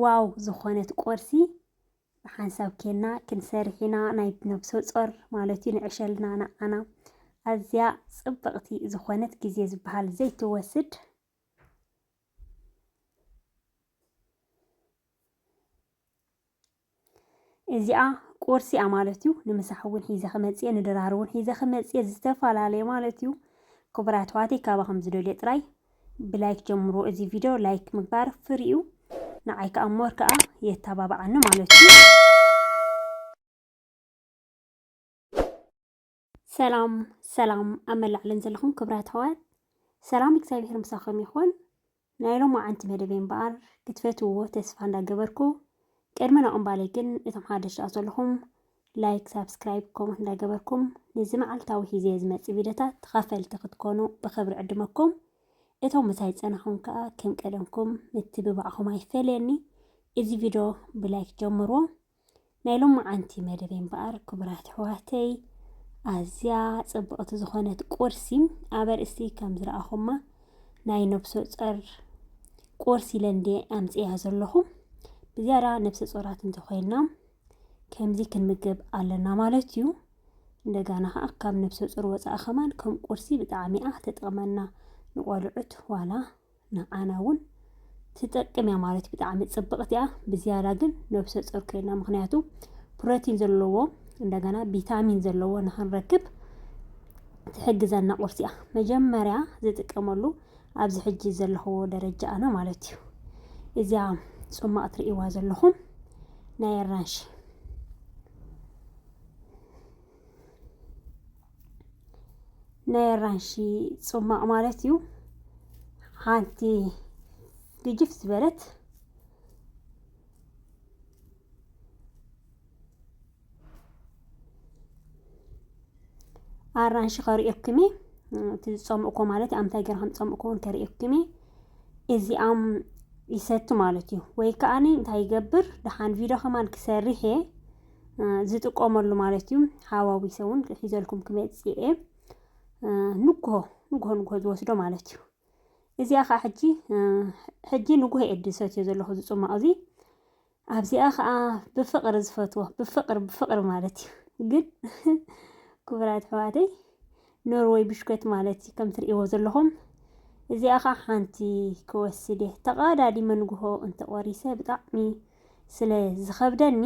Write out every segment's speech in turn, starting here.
ዋው ዝኾነት ቁርሲ ብሓንሳብ ኬና ክንሰርሕ ኢና ናይ ነብሰ ጾር ማለት እዩ ንዕሸልና ንዓና ኣዝያ ጽብቕቲ ዝኾነት ግዜ ዝበሃል ዘይትወስድ እዚኣ ቁርሲ እያ ማለት እዩ። ንምሳሕ እውን ሒዘ ክመፅእ ንድራር እውን ሒዘ ክመፅእ ዝተፈላለየ ማለት እዩ። ክቡራት ኣሕዋተይ ካባኹም ዝደልዮ ጥራይ ብላይክ ጀምሮ እዚ ቪድዮ ላይክ ምግባር ፍሪ እዩ። ንዓይ ከዓ ሞር ከዓ የተባብዓኒ ማለት እዩ። ሰላም ሰላም ኣብ መላእ ዓለም ዘለኹም ክብራት ኣሕዋት ሰላም እግዚኣብሔር ምሳኹም ይኹን። ናይ ሎማዓንቲ መደበይ እምበኣር ክትፈትውዎ ተስፋ እንዳገበርኩ ቅድሚ ናብ እምባለይ ግን እቶም ሓደሽ ደኣ ዘለኹም ላይክ ሳብስክራይብ ከምኡ እንዳገበርኩም ነዚ መዓልታዊ ሂዘ ዝመፅእ ቪድዮታት ተኻፈልቲ ክትኮኑ ብኽብሪ ዕድመኩም እቶም ምሳይ ፀናኹም ከዓ ከም ቀደምኩም ምትብባዕኹም ኣይፈለየኒ እዚ ቪድዮ ብላይክ ጀምርዎ ናይ ሎማዓንቲ መደበይ እምበኣር ክቡራት ኣሕዋተይ ኣዝያ ጽብቕቲ ዝኾነት ቁርሲ ኣብ ኣርእስቲ ከም ዝረኣኹማ ናይ ነብሰ ጾር ቁርሲ ኢለ እንደ ኣምጽያ ዘለኹ ብዝያዳ ነብሰ ጾራት እንተኾይና ከምዚ ክንምገብ ኣለና ማለት እዩ እንደጋና ከዓ ካብ ነብሰ ጾር ወፃኢ ከማን ከም ቁርሲ ብጣዕሚ እያ ተጠቕመና ንቆልዑት ዋላ ንዓና እውን ትጠቅም እያ ማለት ብጣዕሚ ፅብቕቲ እያ ብዝያዳ ግን ነብሰ ፆር ኮይና ምክንያቱ ፕሮቲን ዘለዎ እንደገና ቪታሚን ዘለዎ ንክንረክብ ትሕግዘና ቁርሲ እያ መጀመርያ ዝጥቀመሉ ኣብዚ ሕጂ ዘለኽዎ ደረጃ ኣነ ማለት እዩ እዚያ ፅሟቕ ትርእይዋ ዘለኹም ናይ ኣራንሺ ናይ ኣራንሺ ጽማቕ ማለት እዩ ሓንቲ ግጅፍ ዝበለት ኣራንሺ ከርእየኩም እየ እቲ ዝጸምእኮ ማለት ኣምታይ ገይረ ከም ዝጸምእኮ እውን ከርእየኩም እየ እዚኣም ይሰቲ ማለት እዩ ወይ ከዓኒ እንታይ ይገብር ደሓን ቪድዮ ከማን ክሰርሕ እየ ዝጥቀመሉ ማለት እዩ ሃዋዊሰ እውን ሒዘልኩም ክመፅእ እየ ንጉሆ ንጉሆ ንጉሆ ዝወስዶ ማለት እዩ እዚኣ ከዓ ሕጂ ሕጂ ንጉሆ እየ ድሰትዮ ዘለኹ ዝፅሟቕ እዚ ኣብዚኣ ከዓ ብፍቕሪ ዝፈትዎ ብፍቕሪ ብፍቕሪ ማለት እዩ ግን ክቡራት ኣሕዋተይ ኖርወይ ብሽኮት ማለት እዩ ከም ትርእይዎ ዘለኹም እዚኣ ኸዓ ሓንቲ ክወስድ እየ ተቐዳዲመ ንግሆ እንተቖሪሰ ብጣዕሚ ስለ ዝኸብደኒ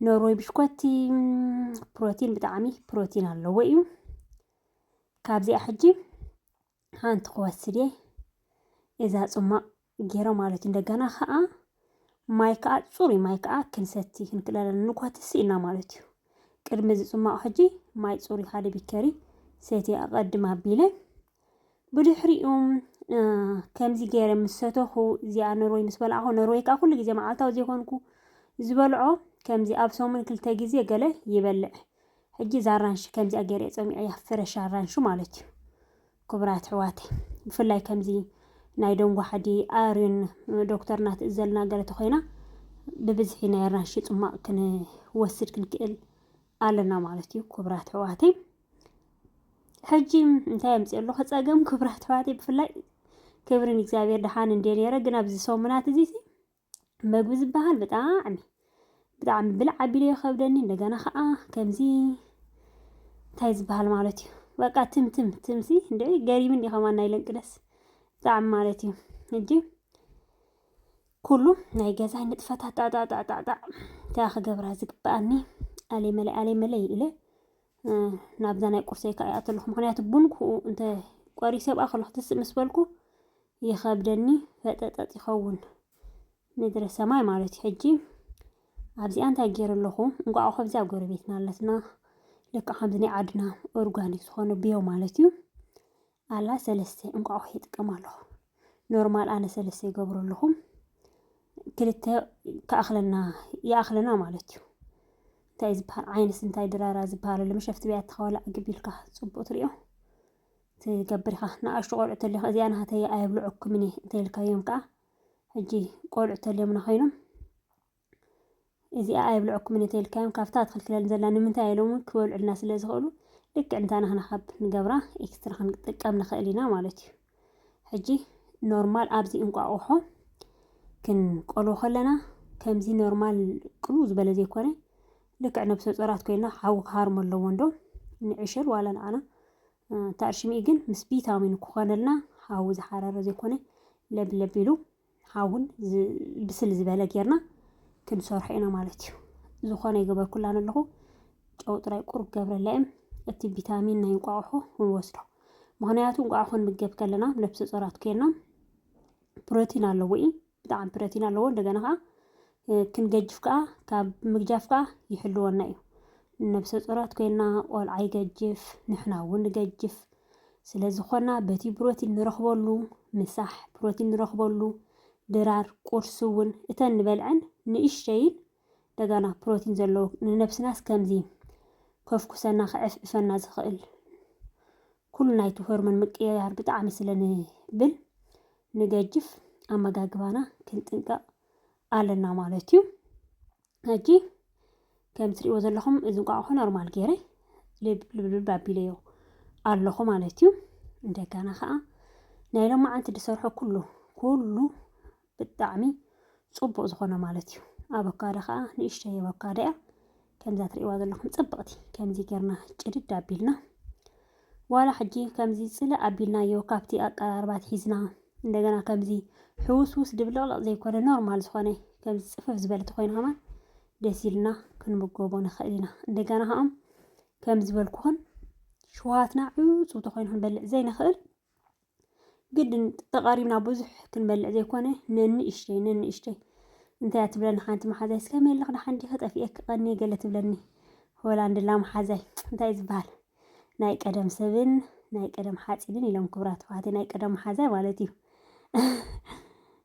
ኖርወይ ብሽኮቲ ፕሮቲን ብጣዕሚ ፕሮቲን ኣለዎ እዩ ካብዚኣ ሕጂ ሓንቲ ክወስድ እየ እዛ ፅሟቕ ገይረ ማለት እዩ እንደገና ከዓ ማይ ከዓ ፅሩይ ማይ ከዓ ክንሰቲ ክንክእል ኣለና ንኳትሲ ኢና ማለት እዩ ቅድሚ እዚ ፅሟቕ ሕጂ ማይ ፅሩይ ሓደ ቢከሪ ሰቲ ኣቐድም ኣቢለ ብድሕሪኡ ከምዚ ገይረ ምስ ሰተኹ እዚኣ ነርወይ ምስ በላዕኹ ነርወይ ከዓ ኩሉ ግዜ መዓልታዊ ዘይኮንኩ ዝበልዖ ከምዚ ኣብ ሰሙን ክልተ ግዜ ገለ ይበልዕ ሕጂ እዛ ኣራንሺ ከምዚኣ ገይረ ጸሚዐያ ፍረሽ ኣራንሺ ማለት እዩ ክቡራት ሕዋተይ ብፍላይ ከምዚ ናይ ደንጎ ሓዲ ኣርዩን ዶክተርና ትእዘልና ገለ ተኮይና ብብዝሒ ናይ ኣራንሺ ጽማቕ ክንወስድ ክንክእል ኣለና ማለት እዩ ክቡራት ሕዋተይ ሕጂ እንታይ ኣምፅኦ ኣለኹ ፀገም ክብራት ኣሕዋተይ ብፍላይ ክብርን እግዚኣብሔር ድሓን እንደ ነረ ግን ኣብዚ ሰሙናት እዚ መግቢ ዝበሃል ብጣዕሚ ብጣዕሚ ብልዕ ኣቢሉ የኸብደኒ እንደገና ከዓ ከምዚ እንታይ ዝበሃል ማለት እዩ በቃ ትምትም ትምሲ እንደ ገሪምን ዲኸማ ናይ ለንቅደስ ብጣዕሚ ማለት እዩ እጂ ኩሉ ናይ ገዛይ ንጥፈታት ጣጣጣጣጣ እንታይ ክገብራ ዝግብኣኒ ኣሌ መለይ ኣሌ መለይ ኢለ ናብዛ ናይ ቁርሰይ ከዓ ይኣተለኹ ምክንያቱ ቡን ክኡ እንተ ቆሪሰ ብኣ ከለኹ ትስእ ምስ በልኩ ይኸብደኒ ፈጠጠጥ ይኸውን ምድረ ሰማይ ማለት እዩ ሕጂ ኣብዚኣ እንታይ ገይረ ኣለኹ እንቋዕ ከብዚኣ ጎረቤትና ኣለትና ልክዕ ከምዚ ናይ ዓድና ኦርጋኒክ ዝኾነ ብዮ ማለት እዩ ኣላ ሰለስተ እንቋቑሖ ይጥቀም ኣለኹ ኖርማል ኣነ ሰለስተ ይገብሩ ኣለኹ ክልተ ክኣኽለና ይኣኽለና ማለት እዩ እንታይ ዝበሃል ዓይነስ እንታይ ድራራ ዝበሃለሉ መሸፍቲ ብያ ተኸወላ ዕግብ ኢልካ ፅቡቅ ትሪኦ ትገብር ኢኻ ንኣሽቱ ቆልዑ ተልዮም እዚኣ ናሃተይ ኣየብልዑኩምን እየ እንተልካዮም ከዓ ሕጂ ቆልዑ ተልዮምና ኮይኖም እዚኣ ኣየብልዑኩምን እየ ተልካዮም ካብታ ትኽልክለል ዘላ ንምንታይ ኢሎም እውን ክበልዑልና ስለ ዝኽእሉ ልክዕ እንታ ናህና ካብ ንገብራ ኤክስትራ ክንጥቀም ንኽእል ኢና ማለት እዩ ሕጂ ኖርማል ኣብዚ እንቋቑሖ ክንቆልቦ ከለና ከምዚ ኖርማል ቅሉ ዝበለ ዘይኮነ ልክዕ ነብሰ ጾራት ኮይና ሓዊ ክሃርሞ ኣለዎ እንዶ ንዕሸል ዋላ ንዓና እታ ዕሽሚኢ ግን ምስ ቢታሚን ክኾነልና ሓዊ ዝሓረረ ዘይኮነ ለብ ለብ ኢሉ ሓውን ብስል ዝበለ ጌርና ክንሰርሖ ኢና ማለት እዩ ዝኾነ ይገበርኩላን ኣለኹ ጨው ጥራይ ቁሩብ ገብረላ እም እቲ ቪታሚን ናይ እንቋቑሖ ክንወስዶ ምክንያቱ እንቋቑሖ ክንምገብ ከለና ነብሰ ጾራት ኮይና ፕሮቲን ኣለዎ እዩ ብጣዕሚ ፕረቲን ኣለዎ እንደገና ከኣ ክንገጅፍ ከኣ ካብ ምግጃፍ ከኣ ይሕልወና እዩ ነብሰ ጾራት ኮይና ቆልዓ ይገጅፍ ንሕና እውን ንገጅፍ ስለ ዝኾና በቲ ፕሮቲን ንረኽበሉ ምሳሕ ፕሮቲን ንረኽበሉ ድራር ቁርሲ እውን እተን ንበልዐን ንእሽተይን እንደገና ፕሮቲን ዘለዎ ንነብስናስ ከምዚ ከፍኩሰና ክዕፍዕፈና ዝኽእል ኩሉ ናይቲ ሆርሞን ምቅይያር ብጣዕሚ ስለ ንብል ንገጅፍ ኣመጋግባና ክንጥንቀቕ ኣለና ማለት እዩ ሕጂ ከም ትሪእዎ ዘለኹም እዚ እንቋቑሖ ኖርማል ገይረ ልብልብልብ ኣቢለዮ ኣለኹ ማለት እዩ እንደገና ከዓ ናይ ሎማዓንቲ ዝሰርሖ ኩሉ ኩሉ ብጣዕሚ ጹቡቅ ዝኮነ ማለት እዩ ኣበካዶ ከኣ ንእሽተይ ኣበካዶ እያ ከምዛ ትርእዋ ዘለኩም ጽብቅቲ ከምዚ ጌርና ጭድድ ኣቢልና ዋላ ሕጂ ከምዚ ጽልእ ኣቢልናዮ ካብቲ ኣቀራርባት ሒዝና እንደገና ከምዚ ሕውስውስ ድብልቅልቅ ዘይኮነ ኖርማል ዝኮነ ከምዚ ጽፍፍ ዝበለት ኮይኑ ከማን ደስ ኢልና ክንምገቦ ንኽእል ኢና እንደገና ከኦም ከም ዝበልኩኹን ሽውሃትና ዕጹው ተኮይኑ ክንበልዕ ዘይንኽእል ግድን ተቓሪብና ብዙሕ ክንበልዕ ዘይኮነ ነንእሽተይ ነንእሽተይ እንታይ እያ ትብለኒ ሓንቲ መሓዛይ እስከ ሜልኽ ደሓን ዲኺ ጠፊኤኪ ቀኒ ገለ ትብለኒ ሆላንድላ መሓዛይ እንታይ ዝበሃል ናይ ቀደም ሰብን ናይ ቀደም ሓፂንን ኢሎም ክብራት ተዋህቲ ናይ ቀደም መሓዛይ ማለት እዩ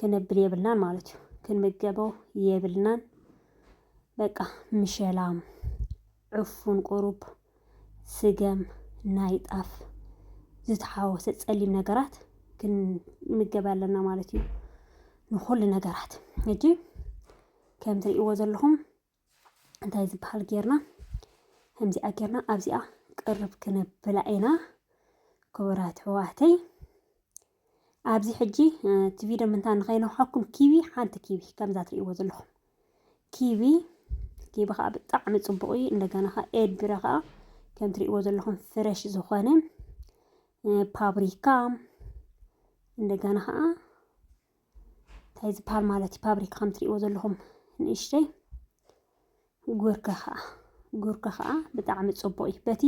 ክንብል የብልናን ማለት እዩ ክንምገቦ የብልናን በቃ ምሸላም ዕፉን ቁሩብ ስገም ናይ ጣፍ ዝተሓወሰ ጸሊም ነገራት ክንምገብ ኣለና ማለት እዩ ንኩሉ ነገራት ሕጂ ከም ትርእይዎ ዘለኹም እንታይ ዝበሃል ጌርና ከምዚኣ ጌርና ኣብዚኣ ቅርብ ክነብላ ኢና ክቡራት ሕዋተይ ኣብዚ ሕጂ እቲ ቪድዮ ምንታይ ንኸይነውሓኩም ኪቢ ሓንቲ ኪቢ ከምዛ ትርእይዎ ዘለኹም ኪቢ ኪቢ ከዓ ብጣዕሚ ፅቡቅ እዩ እንደገና ከዓ ኤድብረ ከዓ ከም ትርእይዎ ዘለኹም ፍረሽ ዝኾነ ፓብሪካ እንደገና ከዓ እንታይ ዝበሃል ማለት እዩ ፋብሪካ ከም ትሪእዎ ዘለኹም ንእሽተይ ጉርካ ከዓ ጉርካ ከዓ ብጣዕሚ ፅቡቅ እዩ በቲ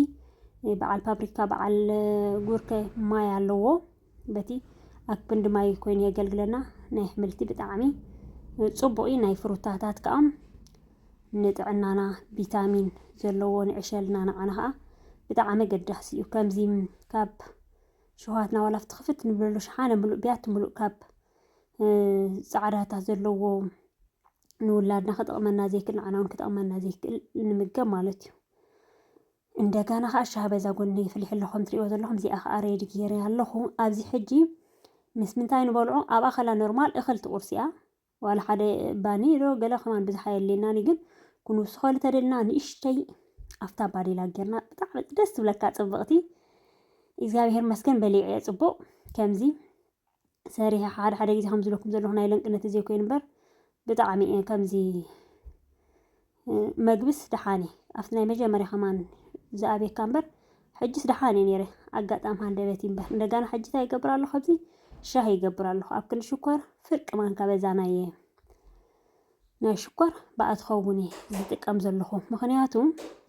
በዓል ፋብሪካ በዓል ጉርከ ማይ ኣለዎ በቲ ኣብ ክንዲ ማይ ኮይኑ የገልግለና ናይ ኣሕምልቲ ብጣዕሚ ፅቡቅ እዩ ናይ ፍሩታታት ከዓ ንጥዕናና ቪታሚን ዘለዎ ንዕሸልና ንዓና ከዓ ብጣዕሚ ኣገዳሲ እዩ ከምዚ ካብ ሸውሃትና ዋላ ኣብቲ ክፍት ንብለሉ ሸሓነ ምሉእ ቢያቲ ምሉእ ካብ ጻዕዳታት ዘለዎ ንውላድና ክጠቕመና ዘይክእል ንዓና እውን ክጠቕመና ዘይክእል ንምገብ ማለት እዩ እንደገና ከዓ ሻህ በዛ ጎኒ ፍልሕ ኣሎ ከም ትሪእዎ ዘለኹም እዚኣ ከዓ ሬድ ጌረ ኣለኹ ኣብዚ ሕጂ ምስ ምንታይ ንበልዖ ኣብኣ ከላ ኖርማል እኽል ትቑርሲ እያ ዋላ ሓደ ባኒ ዶ ገለ ከማን ብዝሓ የድልየናን ግን ክንውስኸሉ ተደልና ንእሽተይ ኣፍታ ባዴላ ጌርና ብጣዕሚ ደስ ትብለካ ጽብቕቲ እግዚኣብሔር መስገን በሊዐ ጽቡቕ ከምዚ ሰሪሐ ሓደ ሓደ ግዜ ከም ዝለኩም ዘለኹ ናይ ለንቅነት ግዜ ኮይኑ እምበር ብጣዕሚ እየ ከምዚ መግብስ ደሓን እየ ኣብቲ ናይ መጀመርያ ከማን ዝኣብየካ እምበር ሕጅስ ደሓን እየ ነይረ ኣጋጣሚ ሃንደበት እምበር እንደጋና ሕጂ እንታይ ይገብር ኣለኹ ኣብዚ ሻሂ ይገብር ኣለኹ ኣብ ክንዲ ሽኮር ፍርቂ ማንካ በዛ ናይ ናይ ሽኮር ብኣ ትኸውን እየ ዝጥቀም ዘለኹ ምክንያቱ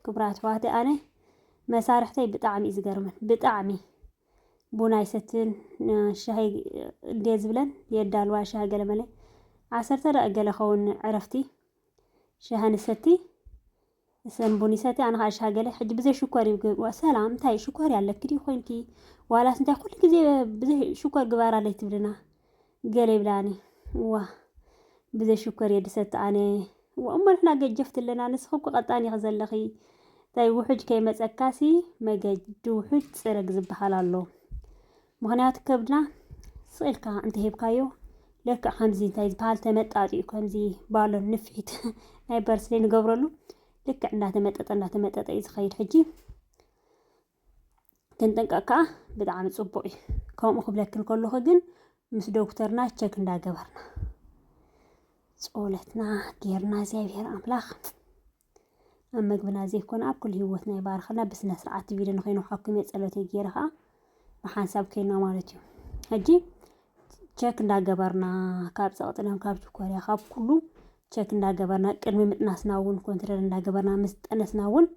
ክብራት ኣሕዋተ ኣነ መሳርሕተይ ብጣዕሚ እዩ ዝገርመን ብጣዕሚ ቡና ይሰትን ሻሂ እንዴ ዝብለን የዳልዋ ሻሂ ገለመለ ዓሰርተ ደቂ ገለ ኸውን ዕረፍቲ ሻሂ ንሰቲ እሰን ቡን ይሰቲ ኣነ ከዓ ሻሂ ገለ ሕጂ ብዘይ ሽኮር እዩ ግብ- ሰላም እንታይ እዩ ሽኮር ያለኪ ድዩ ኮይንኪ ዋላስ እንታይ ኩሉ ግዜ ብዘይ ሽኮር ግባር ኣለይ ትብልና ገለ ይብላኒ እዋ ብዘይ ሽኮር እየ ድሰቲ ኣነ እዋ እሞ ንሕና ገጀፍቲ ኣለና ንስኺ እኮ ቀጣን ኢኺ ዘለኺ እንታይ ውሑጅ ከይመፀካሲ መገዲ ውሑጅ ፅረግ ዝበሃል ኣሎ ምኽንያቱ ከብድና ስቕ ኢልካ እንተሂብካዮ ለክዕ ከምዚ እንታይ ዝበሃል ተመጣጢኡ ከምዚ ባሎን ንፍሒት ናይ በርስሌ ንገብረሉ ልክዕ እንዳተመጠጠ እንዳተመጠጠ እዩ ዝኸይድ ሕጂ ክንጥንቀቕ ከዓ ብጣዕሚ ፅቡቕ እዩ ከምኡ ክብለኪ ከለኹ ግን ምስ ዶክተርና ቸክ እንዳገበርና ፆለትና ጌርና እግዚኣብሔር ኣምላኽ ኣብ መግብና ዘይኮነ ኣብ ኩሉ ህይወትና ይባርኸልና ብስነ ስርዓት እቲ ቪድዮ ንኸይኑ ሓኩም እየ ጸሎተይ ገይረ ከዓ ብሓንሳብ ከይና ማለት እዩ ሕጂ ቸክ እንዳገበርና ካብ ፀቕጥሎም ካብ ችኮርያ ካብ ኩሉ ቸክ እንዳገበርና ቅድሚ ምጥናስና እውን ኮንትረል እንዳገበርና ምስ ጠነስና እውን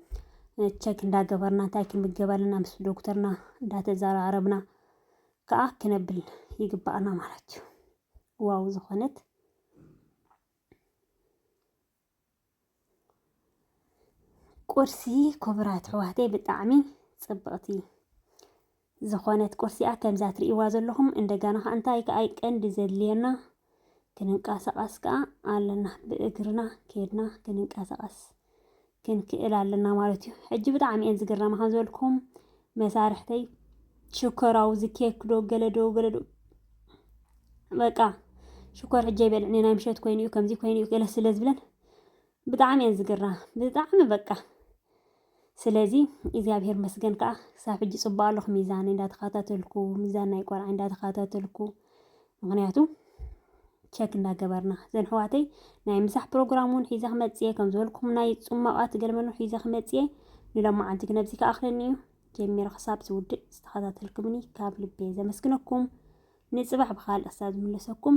ቸክ እንዳገበርና እንታይ ክምገብ ኣለና ምስ ዶክተርና እንዳተዘራረብና ከዓ ክነብል ይግባኣና ማለት እዩ ዋው ዝኾነት ቁርሲ ክቡራት ኣሕዋተይ ብጣዕሚ ጽብቕቲ ዝኾነት ቁርሲኣ ከምዛ ትርእይዋ ዘለኹም እንደገና ከዓ እንታይ ከዓ ቀንዲ ዘድልየና ክንንቀሳቐስ ከዓ ኣለና ብእግርና ከድና ክንንቀሳቐስ ክንክእል ኣለና ማለት እዩ። ሕጂ ብጣዕሚ እየን ዝግረማ ከም ዝበልኩም መሳርሕተይ ሽኮራዊ ዝኬክ ዶ ገለዶ ገለዶ በቃ ሽኮር ሕጀ ይበልዕኒ ናይ ምሸት ኮይኑ እዩ ከምዚ ኮይኑ እዩ ገለ ስለ ዝብለን ብጣዕሚ እየን ዝግራ ብጣዕሚ በቃ ስለዚ እግዚኣብሔር መስገን ከዓ ክሳብ ሕጂ ፅቡቅ ኣለኹ ሚዛን እንዳተኸታተልኩ ሚዛን ናይ ቆልዓ እንዳተኸታተልኩ ምኽንያቱ ቸክ እንዳገበርና ዘን ሕዋተይ ናይ ምሳሕ ፕሮግራም እውን ሒዘ ክመፅየ ከም ዝበልኩም ናይ ፅሟቓት ገልመኖ ሒዘ ክመፅየ ንሎማዓንቲ ግን ኣብዚ ክኣኽለኒ እዩ ጀሚረ ክሳብ ዝውድእ ዝተኸታተልኩምኒ ካብ ልቤ ዘመስግነኩም ንፅባሕ ብካልእ ክሳብ ዝምለሰኩም